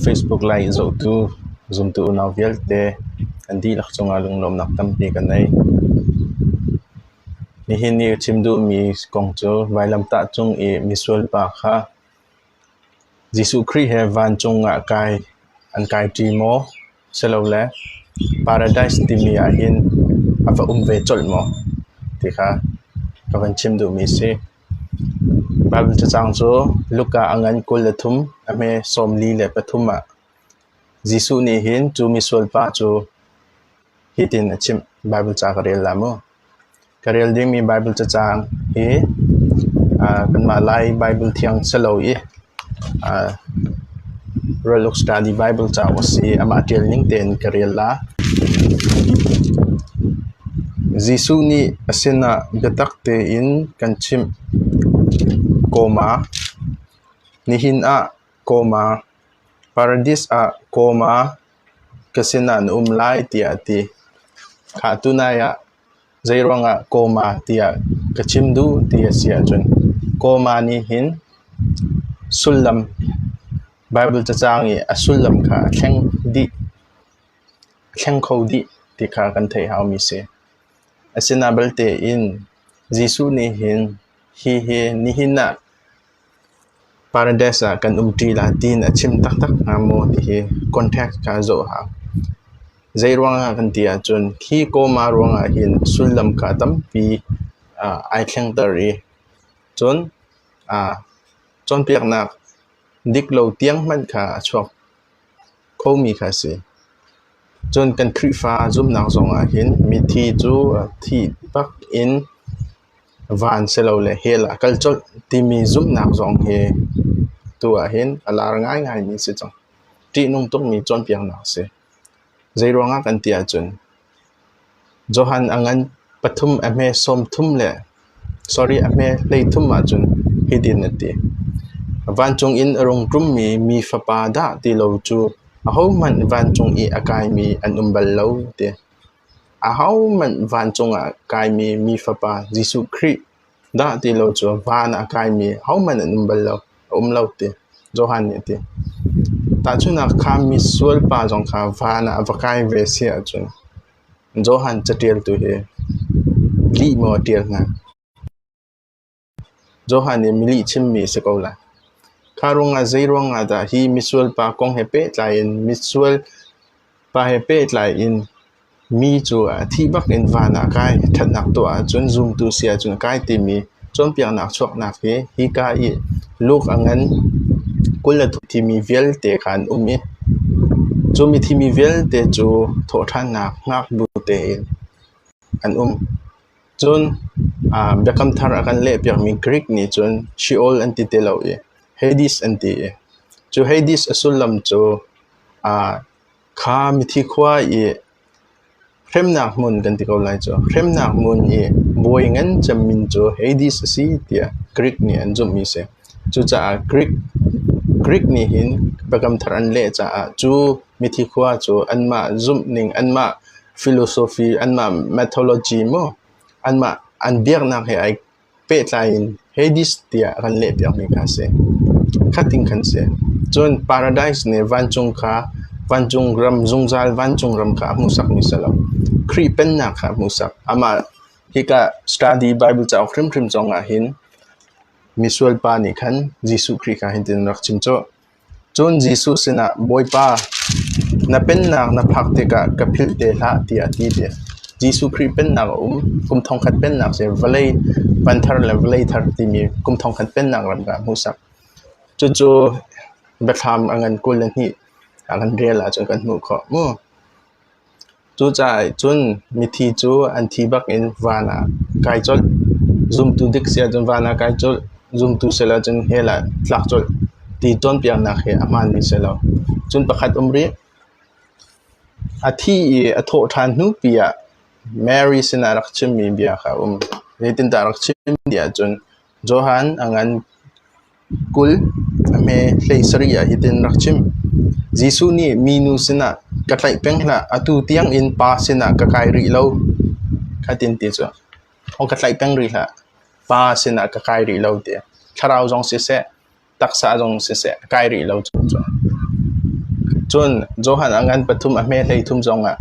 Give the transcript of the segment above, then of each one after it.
Facebook Live in zohtu zumtu unau vialte an dihlak cungah lunglawmnak tampi kan ngei. Nihin i chim duhmi kong cu vailamtah cung i misual pa kha Jesuh Khrih he vancung ah kai an kai ṭi maw silole Paradise timi ahhin a va um ve colh maw ti kha ka van chim duhmi a si. Bam cacang cu luk ah a ngan kul le thum, a hme sawmli le pathum ah. Jesuh nih hin cu misual pa cu hitin a chimh: Baibal ca ka rel hlah mu. Ka rel dingmi Baibal cacang hi kanmah Lai Baibal thiang si lo i Ralluk Study Baibal cauk a si i amah ṭial ning tein ka rel la. Jesuh nih a sinah biatak tein kan chimh. Kawma Nihin ah kawma Paradis ah kawma ka sinah na um lai tiah a ti. Khah tunai ah Zeiruangah kawma tiah ka chim duh ti a si ahcun kawma nih hin sullam Baibal cacang i a sullam kha a thleng dih, a thleng kho dih ti kha kan theih haumi si. Asinain belte in Jesuh nih hin hihi nihin ah Paradise ah kan um ṭi la tiin a chim taktak hnga maw ti hi context kha zoh a hau. Zeiruangah kan ti ahcun khi kawma ruangah hin sullam kha tampi ah ai thlengter i cun aa cawnpiaknak dik lo tiang hmanh kha a chuak khomi kha a si. Cun kan Khrihfa zumhnak zongah hin mithi cu thih bak in van silole hell ah kal colh timi zumhnak zong hi tu ahhin a lar ngaingaimi si cang. Ṭihnung tukmi cawnpiaknak a si. Zeiruangah kan ti ahcun Johan a ngan pathum a hme sawmthum le sorry a hme hleithum ahcun hitin a ti. Vancung in a rung ṭummi mi fapa dah ti lo cu ahohmanh vancung i a kaimi an um bal lo ti. Ahohmanh vancung ah kaimi Mi Fapa Jesuh Khrih dah ti lo cu van ah kaimi hohmanh an um bal lo, a um lo ti Johan nih a ti. Tahchunhnak kha misual pa zong kha van ah a va kai ve si ahcun Johan caṭialtu hi lih maw a ṭial hnga? Johan nih mi lihchimmi a si ko lai. Kha ruangah zeiruangah dah hi misual pa kong he pehtlai in misual pa he pehtlai in mi cu a thih bak in van ah kai ṭhatnak tuah ahcun zumtu si ahcun a kai timi cawnpiaknak chuaknak hi hika i Luke a ngan kul le thum thimi vialte kha an um i cumi thimi vialte cu thawhṭhannak ngaknu tein an um. Cun Biakam Thar a kan lehpiakmi Greek nih cun Sheol an ti ti lo i Hades an ti i cu Hades a sullam cu kha mithi khua i hremnak hmun kan ti ko lai cu hremnak hmun i bawi ngan cem min cu Hades a si tiah Greek nih an zumhmi a si. Cucaah Greek nih hin Biakam Thar an leh caah cu Mithi khua cu anmah zumh ning, anmah philosophy, anmah mythology maw anmah an biaknak he ai pehtlai in Hades tiah a kan lehpiakmi kha a si. Khatin kan si. Cun paradise nih vancung kha vancung ram zungzal vancung ram kha a hmuhsakmi si lo. Khrih pennak kha a hmuhsak. Amah hika study Bible cauk hrimhrim zong ah hin misual pa nih khan Jesuh Khrih kha hintin rak chim cu Cun Jesuh sinah, Bawipa, na pennak na phak tikah ka philh te hlah, tiah a ti ti a si. Jesuh Khrih pennak a um. Kum thongkhat pennak cu vawlei van thar le vawlei thar timi kum thongkhat pennak ram kha a hmuhsak. Cucu biathlam a ngan kul le hnih a kan rial ahcun kan hmuh khawh mu. Cucaah cun mithi cu an thi bak in van ah kai colh. Zumtu dik si ahcun van ah kai colh, zumtu si lo ahcun hell ah tlak colh ti cawnpiaknak hi a hmaanmi si lo. Cun pakhat um rih. A thi i a thawh ṭhan hnupi ah Mary sinah rak chimmi bia kha a um. Zeitindah a rak chim ti ahcun Johan a ngan Kul, a hme hlei sarih ah hitin rak chim: Jesuh nih minu sinah, “Ka tlaih peng hlah, atu tiangin pa sinah ka kai rih lo,” kha tin ti cu, “Aw, ka tlaih peng rih hlah, pa sinah ka kai rih lo,” ti a Thlarau zong siseh, taksa zong siseh, a kai rih lo cu. Cun Johan a ngan pathum a hme hlei thum zongah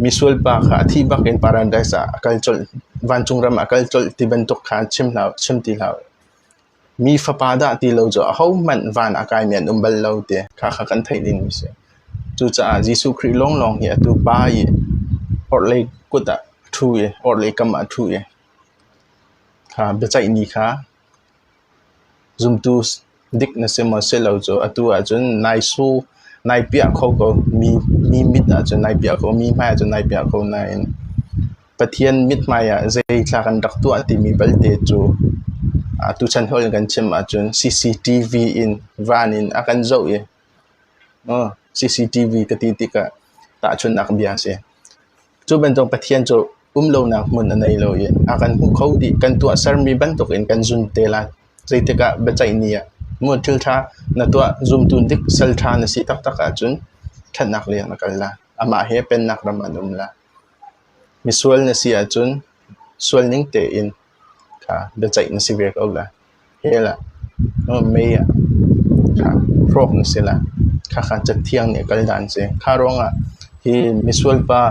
misual pa kha a thih bak in Paradis ah a kal colh, vancung ram a kal colh ti bantuk kha chim hlah, chim ti hlah u. Mi fapa dah ti lo cu ahohmanh van a kaimi an um bal lo ti khakha kan theih dingmi a si. Cucaah Jesuh Khrih lawnglawng hi atu pa i orhlei kut ah a ṭhu i orhlei kam ah a ṭhu i kha biaceihni kha zumtu dik na si maw si lo cu atu ahcun nai suh nai piah kho ko mi mit ahcun nai piah ko mi hmai ahcun nai piah ko nain Pathian mithmai ah zeitlak an rak tuah timi belte cu tuchan hawi in kan chim ahcun CCTV in van in a kan zoh i CCTV ka ti tikah tahchunhnak bia a si. Cu bantuk Pathian cu umlonak hmun a nei lo i a kan hmuh kho dih. Kan tuahsermi bantukin kan zum te lai. Zeitikah biaceihni ah mu thilṭha na tuah zumtu dik sal ṭha na si taktak ahcun ṭhatnak leng na kal lai. Amah he pennak ram an um lai. Misual na si ahcun sual ning tein kha biaceih na si ve ko la. He lah mei ah kha hrawk na si la. Khakha cathiang nih a kal dan a si. Kha ruangah hi misual pa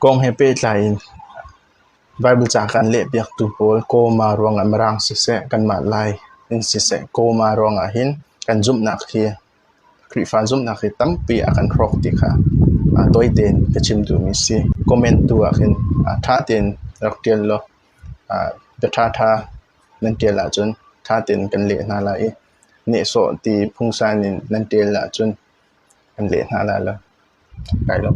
kong he pehtlai in Baibal ca kan lehpiaktu pawl kawma ruangah Mirang siseh, kanmah Lai in siseh kawma ruangah hin kan zumhnak hi Khrihfa zumhnak hi tampi a kan hrawk ti kha tawi tein ka chim duhmi a si. Comment tu ahkhin ṭha tein rak ṭial law bia ṭhaṭha nan ṭial ahcun ṭha tein kan leh hna lai i nehsawh ti phungsan in nan ṭial ahcun kan leh hna lai lo. Kai lawm.